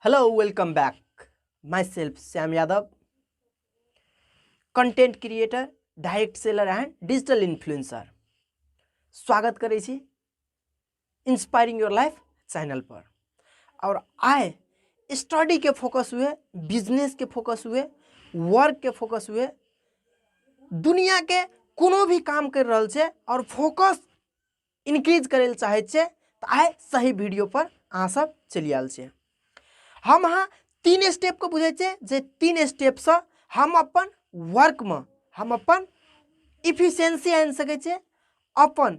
hello welcome back myself Shyam Yadav content creator direct seller and digital influencer स्वागत करै छी inspiring your life channel पर और आए स्टडी के फोकस हुए बिजनेस के फोकस हुए वर्क के फोकस हुए दुनिया के कोनो भी काम कर रहल छै और फोकस इंक्रीज करे लए चाहे छै तो आए सही वीडियो पर अहाँ सब चलि आयल छै हम अहाँ तीन स्टेप को बुझे छै जे तीन स्टेप से हम अपन वर्क में हम अपन इफिशियंसी आनि सकै छै अपन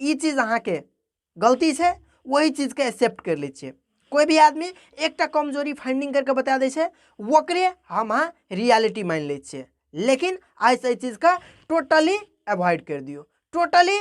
ई चीज अहाँके गलती छै ओहि चीजके एक्सेप्ट करि लै छियै कोइ भी आदमी एकटा कमजोरी फाइंडिंग करिके बता दै छै ओकरे हम अहाँ रियलिटी मानि लै छियै लेकिन आइसँ एहि चीजके टोटली एवॉइड करि दियौ टोटली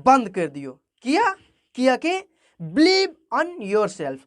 बन्द करि दियौ किया कियाकि बिलीव ऑन योर सेल्फ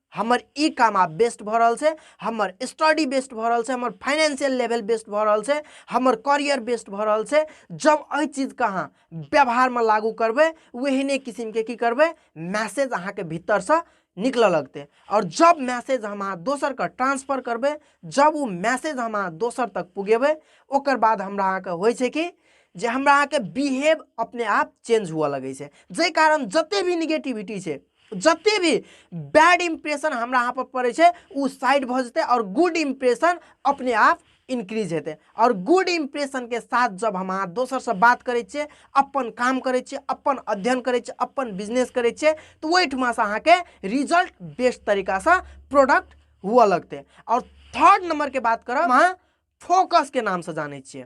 हमर ई काम आब बेस्ट भऽ रहल छै हमर स्टडी बेस्ट भऽ रहल छै हमर फाइनेंशियल लेवल बेस्ट भऽ रहल छै हमर करियर बेस्ट भऽ रहल छै जब एहि चीजके अहाँ व्यवहारमे लागू करबै ओहने किसिमके की करबै मैसेज अहाँके भीतरसँ निकलऽ लगतै आओर जब मैसेज हम अहाँ दोसरके ट्रांसफर करबै जब ओ मैसेज हम अहाँ दोसर तक पुगेबै ओकर बाद हमरा अहाँके होइ छै कि जे हमरा अहाँके बिहेव अपने आप चेंज हुअ लगै छै जाहि कारण जतेक भी निगेटिविटी छै जते भी बैड इम्प्रेशन हमरा यहाँ पर पड़े छै उ साइड भ जते और गुड इम्प्रेशन अपने आप इंक्रीज हेतै और गुड इम्प्रेशन के साथ जब हम अहाँ दोसर से बात करे छे अपन काम करे छे अपन अध्ययन करे छे अपन बिजनेस करे छे तो वही ठुमा से अहाँ के रिजल्ट बेस्ट तरीका से प्रोडक्ट हुआ लगते और थर्ड नंबर के बात करब अहाँ फोकस के नाम से जाने छे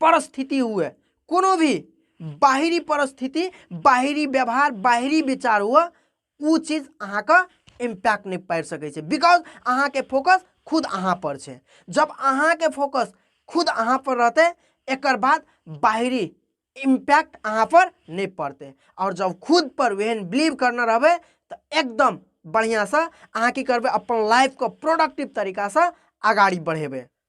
परिस्थिति हुए कोनो भी बाहरी परिस्थिति बाहरी व्यवहार बाहरी विचार हुए ओ चीज अहाँके इम्पैक्ट नहीं पार सकै छै बिकॉज अहाँके फोकस खुद अहाँ पर छै जब अहाँके फोकस खुद अहाँ पर रहते एक बाद बाहरी इम्पैक्ट अहाँ पर नहीं पड़ते और जब खुद पर वेहन बिलीव करना रहे तो एकदम बढ़िया से अहाँ की करबे अपन लाइफ को प्रोडक्टिव तरीका से अगाड़ी बढ़ेबे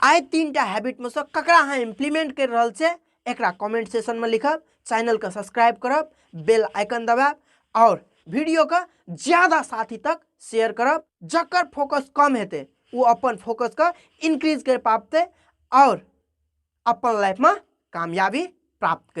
आइ तीन टा हैबिटमे सँ ककरा अहाँ इम्प्लीमेंट करि रहल छै एकरा कमेंट सेशनमे लिखब चैनलके सब्सक्राइब करब बेल आइकन दबाएब आओर वीडियोके ज्यादा साथी तक शेयर करब जकर फोकस कम हेतै ओ अपन फोकसके इनक्रीज करि पाबतै आओर अपन लाइफमे कामयाबी प्राप्त कर